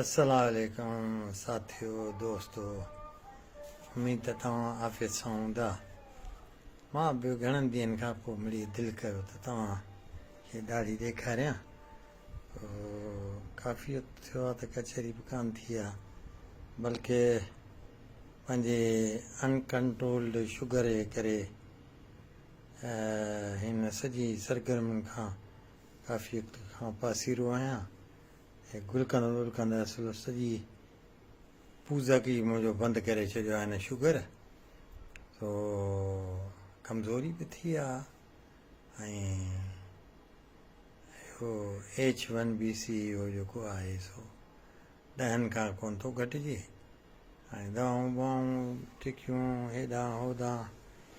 السلام عليڪم ساٿيو دوستو اميد ته توهان عافيت سان هوندا مان به گهڻن ڏينهن کان پوء مڙي دل ڪيو ته توهان کي ڏاڙهي ڏيکاريان ڪافي وقت ٿيو آهي ته ڪچهري به ڪان ٿي آهي بلڪه پنهنجي انڪنٽرولڊ شگر جي ڪري هن سڄي سرگرمين کان ڪافيت کان پاسيرو آهيان ۽ گل ڪندو گل ڪندو اصل سڄي پوزڪ ئي منهنجو بند ڪري ڇڏيو آهي هن شگر سو ڪمزوري به ٿي آ ۽ اهو ايڇ ون بي سي اهو جيڪو آهي سو ڏهن کان ڪون ٿو گهٽجي ۽ دواؤن بواؤن ٽڪيون هيڏانهن هوڏانهن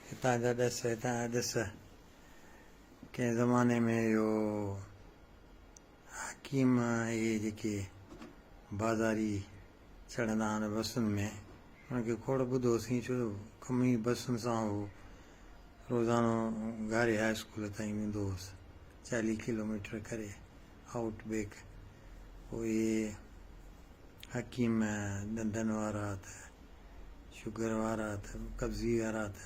هتان جا ڏس هتان جا ڏس ڪنهن زماني ۾ اهو حڪيم اهي جيڪي بازاري چڙهندا آهن بسن ۾ انهن کي کوڙ ٻڌو سين ڇو جو ڪم ئي بسن سان هو. روزانو گاري هاء اسڪول تائين ويندو هوس چاليهه ڪلوميٽر ڪري آئوٽ بيڪ پوء اهي حڪيم ڏندن وارا ته شگر وارا ته قبضي وارا ته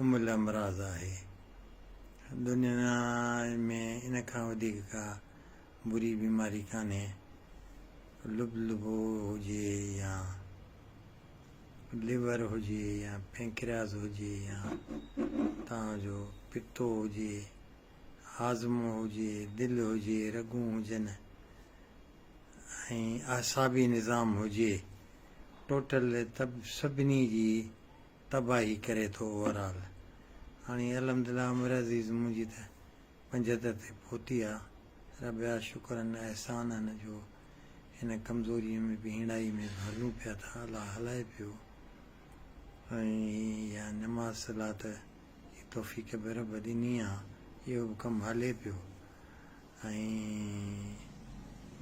ام الامراض آهي. دنيا ۾ ان کان وڌيڪ ڪا بري بيماري ڪانهي. لبلبو هجي يا ليور هجي يا پينڪرياس هجي يا توهان جو پتو هجي، هاضمو هجي، دل هجي، رڳون هجن ۽ اعصابي نظام هجي، ٽوٽل طب سڀني جي تباهي ڪري ٿو اوور آل هاڻي الحمدلله عامر عزيز منهنجي ته پنجهتر تي پهتي آ رب جا شڪر ان احسان ان جو هن ڪمزوري ۾ به هيڻائي ۾ به هلون پيا ٿا الله هلائي پيو ۽ اها نماز صلات جي توفيق به رب ڏني آ اهو به ڪم هلي پيو. ۽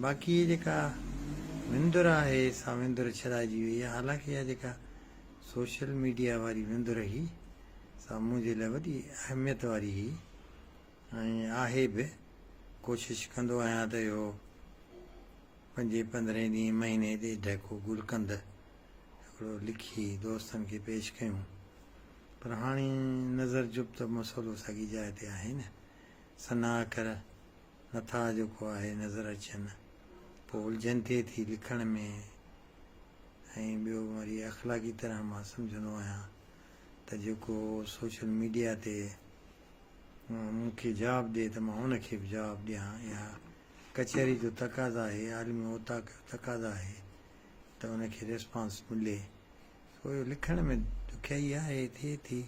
باقي جيڪا وندر آهي سا وندر ڇڏائجي وئي آهي حالانڪ اها جيڪا سوشل ميڊيا واري وندر هئي سا منهنجي لاء وڏي اهميت واري هئي ۽ آهي به ڪوشش ڪندو آهيان ته اهو پنجين پندرهين ڏينهن مهيني ڏيڍ ڪو گلقند هڪڙو لکي دوستن کي پيش ڪيون پر هاڻي نظر جب ته مسئلو ساڳي جاء تي آهي نه سنا اکر نٿا اڄوڪو آهي نظر اچن پوء الجهن ٿئي ٿي لکڻ ۾ ۽ ٻيو وري اخلاقي طرح مان سمجهندو آهيان ته جيڪو سوشل ميڊيا تي مون کي جواب ڏئي ته مان ان کي به جواب ڏيان اها ڪچهري جو تقاضا آهي عالمي اوطاق جو تقاضا آهي ته ان کي ريسپانس ملي سو لکڻ ۾ ڏکيائي آهي ٿئي ٿي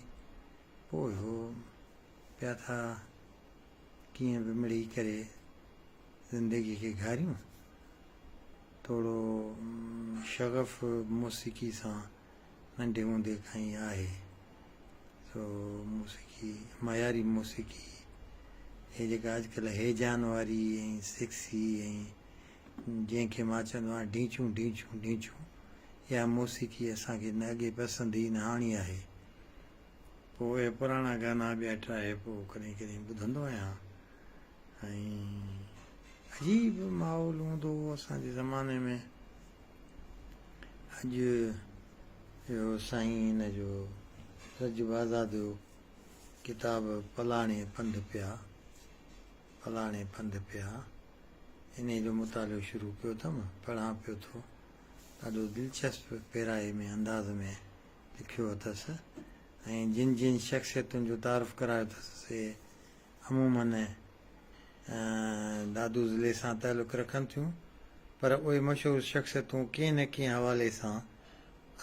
پوء اهو پيا ٿا ڪيئن به مڙئي ڪري زندگي کي گهاريون توڙو شغف موسيقي سان ننڍي هوندي کان ئي آهي سو موسيقي معياري موسيقي هي جيڪا اڄڪلهه هيجان واري ۽ سيڪسي ۽ جنهن کي مان چوندو آهيان ڍينچون ڍينچون ڍينچون اها موسيقي اسان کي نه اڳي پسند هئي نه هاڻي آهي پوء اهي پراڻا گانا ٻيا ٽراهي پوء ڪڏهن ڪڏهن ٻڌندو آهيان ۽ عجيب ماحول هوندو هو اسان جي زماني ۾ اڄ اهو سائين هن جو رجب آزاد جو ڪتاب پلاڻي پنڌ پيا پلاڻي پنڌ پيا انهي جو مطالعو شروع ڪيو اٿم پڙهان پيو ٿو ڏاڍو دلچسپ پيرائي ۾ انداز ۾ لکيو اٿس ۽ جن جن شخصيتن جو تعارف ڪرايو اٿس سي عموماً دادو ضلعي سان تعلق رکن ٿيون پر اهي مشهور شخصيتون ڪنهن نه ڪنهن حوالي سان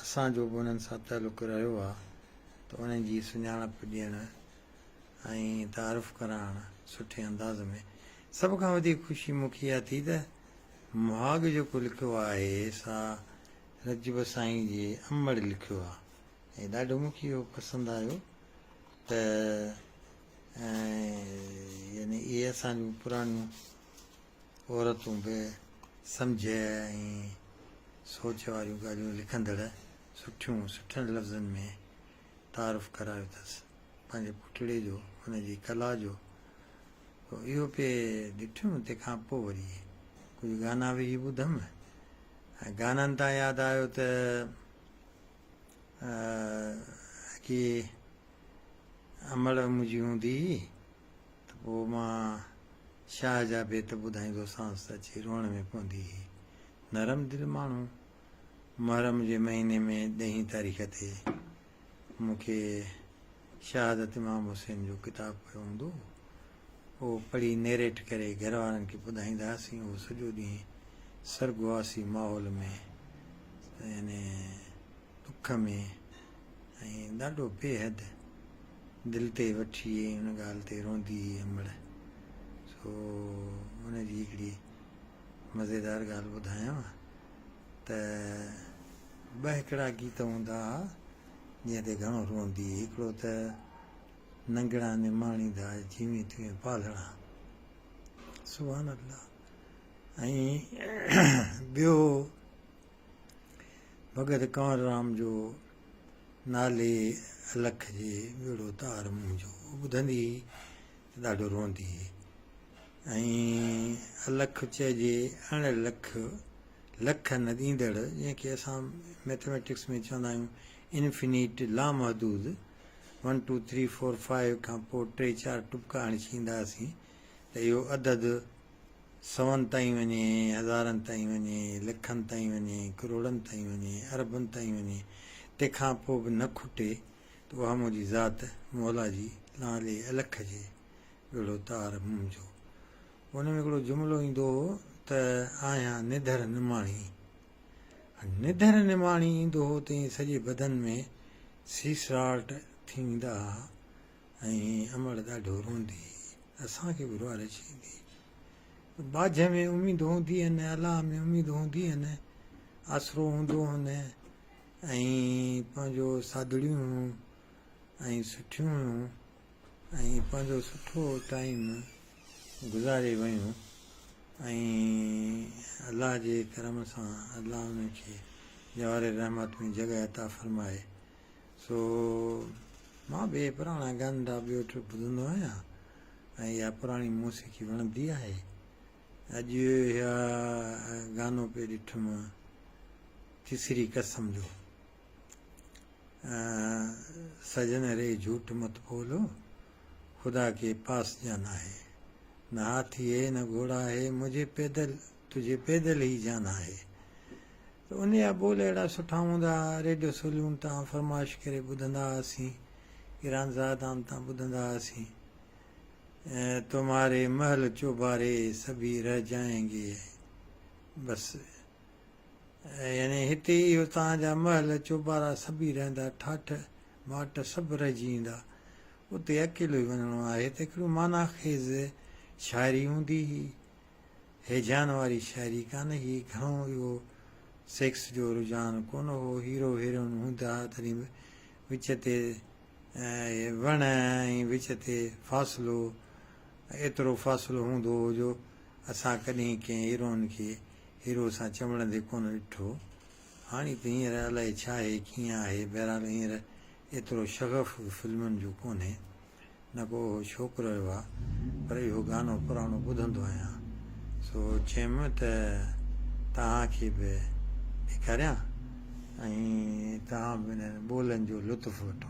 اسان جو به انهن سان تعلق رهيو آهي ته انهن جي سڃاڻپ ڏيڻ ۽ تعارف ڪرائڻ سٺي انداز ۾ سڀ کان وڌيڪ خوشي مون کي اها ٿي ته مهاڳ جيڪو لکيو آهي سا رجب سائين جي امڙ لکيو آ ۽ ڏاڍو مون کي اهو پسند آيو ته يعني اهي اسان جون پراڻيون عورتون به سمجهه ۽ سوچ واريون ڳالهيون لکندڙ سٺيون سٺن لفظن ۾ تعارف ڪرايو اٿس پنهنجي پٽڙي جو ان جي ڪلا جو اهو پي ڏٺم تنهن کان پوء وري ڪجهه گانا به هي ٻڌم ۽ گانن تان ياد آيو ته اڳي امڙ منهنجي هوندي هئي ته پوء مان شاهه جا بيت ٻڌائيندوسانس ته اچي روئڻ ۾ پوندي هئي. نرم دل ماڻهو محرم جي مهيني ۾ ڏهين تاريخ تي مون کي شهادت امام حسين جو ڪتاب پيو هوندو هو. اهو پڙهي نيريٽ ڪري گهر وارن کي ٻڌائيندا هئاسين اهو سڄو ڏينهن سرڳواسي ماحول ۾ يعني ڏک ۾ ۽ ڏاڍو بيحد دل تي وٺي ۽ ان ڳالهه تي روندي هئي امڙ سو ان جي هڪڙي مزيدار ڳالهه ٻڌايان ته ٻه هڪڙا گيت هوندا هئا جنهن تي گهڻو روندي هئي هڪڙو ته ننگڻا نماڻي ڌار جيوين توين پالڻا سبحان الله ۽ ٻيو ڀڳت ڪنور رام جو نالي الک جي ٻيڙو تار منهنجو ٻڌندي هئي ڏاڍو روئندي هئي ۽ الک چئجي اڻ لک لک نه ڏيندڙ جنهن کي اسان ميٿميٽڪس ۾ چوندا آهيون انفنيٽ لامحدود one two three four five کان پوء ٽي چار ٽپڪا هڻي ڇيندا هئاسين ته اهو عدد سون تائين وڃي، هزارن تائين وڃي، لکن تائين وڃي، ڪروڙن تائين وڃي، اربن تائين وڃي، تنهن کان پوء به نه کٽي ته اها منهنجي ذات مولا جي لانلي الک جي ويڙهو تار منهنجو. ان ۾ هڪڙو جملو ايندو هو ته آهيان نڌر نماڻي. نڌر نماڻي ايندو هو تئين سڄي بدن ۾ سيسراٽ ٿي ويندا ها ۽ امڙ ڏاڍو روئندي هئي. اسان کي به روئڻ اچي ويندي هئي. ٻاجهه ۾ اميد هوندي هن، الاهه ۾ اميد هوندي هن، آسرو هوندو هن ۽ پنهنجو ساڌڙيون هيون ۽ سٺيون هيون. ۽ پنهنجو سٺو ٽائيم گذاري ويون ۽ الله جي ڪرم سان الله انهن کي جوار رحمت ۾ جڳهه عطا فرمائي سو مان به اهي پراڻا گاندا ٻيو ٽيو ٻڌندو آهيان ۽ اها پراڻي موسيقي وڻندي آهي اڄ اها گانو پئي ڏٺم تيسري قسم جو سجن ري جھوٽ مت بولو، خدا ڪي پاس جان آهي. نه هاٿي هي نه گهوڙا هي، مجھي پيدل تجھي پيدل هي جان آهي. ته ان جا ٻول اهڙا سٺا هوندا ها، ريڊيو سولون تان فرمائش ڪري ٻڌندا هئاسين، ايران زادان تان ٻڌندا هئاسين، تمهاري محل چوباري سڀي رهجائينگي بس. يعني هتي ئي اهو توهان جا محل، چوبارا سڀي رهندا، ٺاٺ ماٽ سڀ رهجي ويندا. اتي اڪيلو ئي وڃڻو آهي ته هڪڙيون معنيٰ خيز شاعري هوندي هي هيجان واري شاعري ڪانه هئي، گهڻو اهو سيڪس جو رجحان ڪونه هو، هيرو هيروئن هوندا ها تڏهن به وچ تي وڻ ۽ وچ تي فاصلو ايترو فاصلو هوندو هو جو اسان ڪڏهن ڪنهن هيروئن کي هيرو سان چنبڙن تي ڪونه ڏٺو. هاڻي ته هينئر الائي ڇا آهي، ڪيئن آهي، بهرحال هينئر ايترو شغف به فلمن جو ڪونهي. نه ڪو اهو شوق رهيو آهي، پر اهو گانو پراڻو ٻڌندو آهيان. سو چيم ته توهان کي به ڏيکاريان ۽ توهان به انهن ٻولن جو لطف وٺو.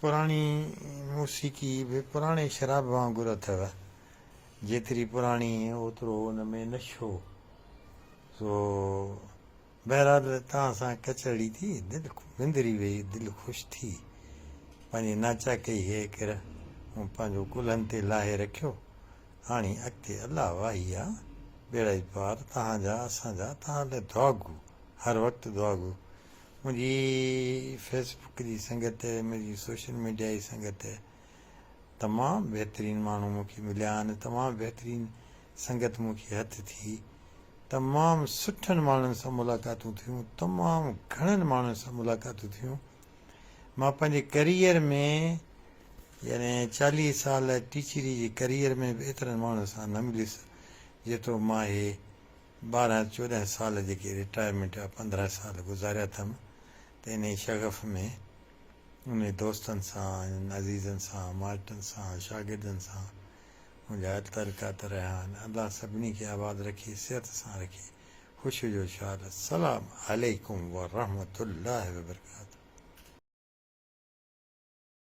پراڻي موسيقي به پراڻي شراب وانگر اٿئي، جيتري پراڻي اوترو ان ۾ نشو. سو بهرحال توهان سان ڪچهري ٿي، دل وندري ويئي، دل خوش ٿي، پنهنجي ناچاڪي هيء ڪر مون پنهنجو ڪلهن تي لاهي رکيو، هاڻي اڳتي الله واهي آ، ٻيڙائي پار، توهان جا، اسان جا، توهان لاء دعاگو، هر وقت دعاگو، منهنجي فيس بڪ جي سنگت، منهنجي سوشل ميڊيا جي سنگت، تمام بهترين ماڻهو مون کي مليا آهن، تمام بهترين سنگت مون کي هٿ ٿي، تمام سٺن ماڻهن سان ملاقاتون ٿيون، تمام گهڻن ماڻهن سان ملاقاتون ٿيون، مان پنهنجي ڪريئر ۾ يعني چاليهه سال ٽيچري جي ڪريئر ۾ به ايترن ماڻهن سان نه مليس جيترو مان هي ٻارهن چوڏهن سال جيڪي رٽائرمينٽ جا پندرهن سال گذاريا اٿم ته انهيء شغف ۾ انهن دوستن سان، انهن عزيزن سان، مائٽن سان، شاگردن سان منهنجا تعلقات رهيا آهن. الله سڀني کي آباد رکي، صحت سان رکي، خوشيء جو شال. السلام عليڪم ورحمة الله وبرڪاته.